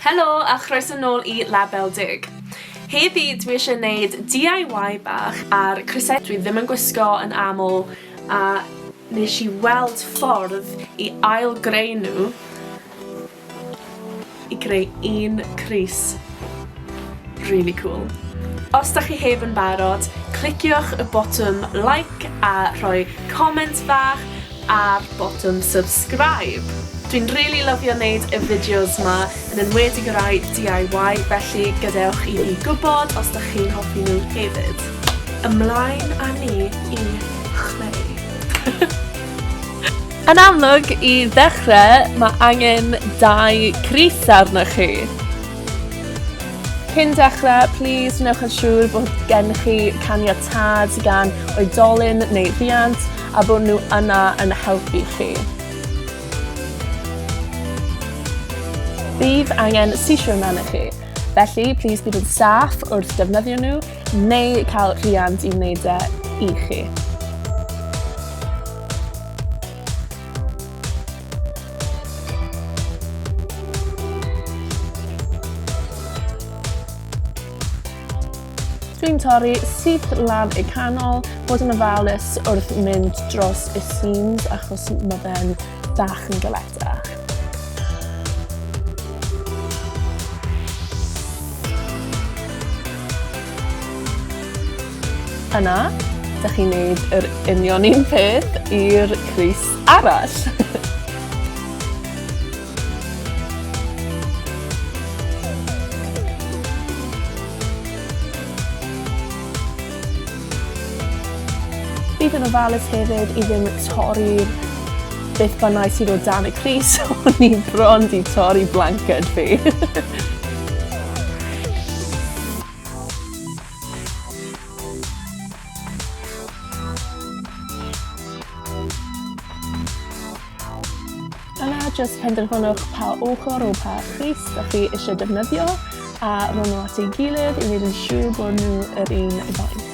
Helo a chroeso nôl i Label Dug. Heddi dwi eisiau gwneud DIY bach ar crysau dwi ddim yn gwisgo yn aml a nes i weld ffordd i ail greu nhw i greu un crys. Really cool. Os da chi heb yn barod, cliciwch y botwm like a rhoi comment bach ar botwm subscribe. Dwi'n rili lyfio neud y fideos ma, yn enwedig y rai DIY, felly gadewch i fi gwybod os dych chi'n hoffi nhw hefyd. Ymlaen â ni i chreu. Yn amlwg, i ddechrau, mae angen dau crith arnoch chi. Cyn dechrau, plis wnewch yn siŵr bod gennych chi caniatâd gan oedolyn neu riant a bod nhw yna yn helpu chi. Bydd angen sesiwn arnoch chi, felly plîs bydd yn staff wrth defnyddio nhw neu cael rhiant i wneud e i chi. Dwi'n torri syth lan y canol, bod yn ofalus wrth mynd dros y seams achos mae fe'n bach yn galetach. Yna, da chi'n neud yr union un peth i'r crys arall. Bydd yn ofalus hefyd i ddim torri'r beth bynnag sydd o dan y Cris, o'n i'n bron di torri blanced fi. Yna jyst penderfynwch pa ochr o pa crys da chi eisiau defnyddio a rhoi nhw at ei gilydd i wneud yn siŵr bod nhw yr un faint.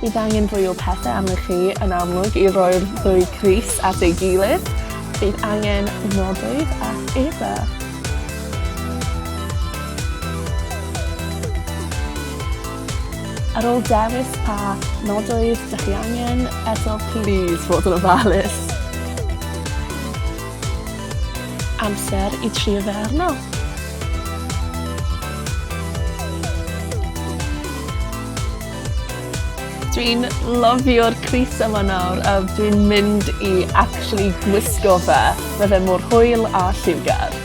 Bydd angen fwy o pethau arnoch chi yn amlwg i roi'r ddwy crys at ei gilydd. Bydd angen nodoedd a eba. Ar ôl dewis pa nodoedd dych chi angen, eto plîs fod yn ofalus. Amser i trio fe arno. Dwi'n lofio'r crys yma nawr a dwi'n mynd i actually gwisgo fe. Mae fe mor hwyl a lliwgar.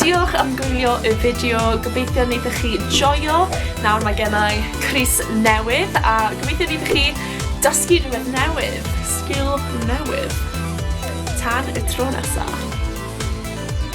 Diolch am gwylio y fideo, gobeithio wnaethoch chi joio. Nawr mae gennau crys newydd a gobeithio wnaethoch chi dysgu rhywbeth newydd, sgil newydd. Tan y tro nesaf.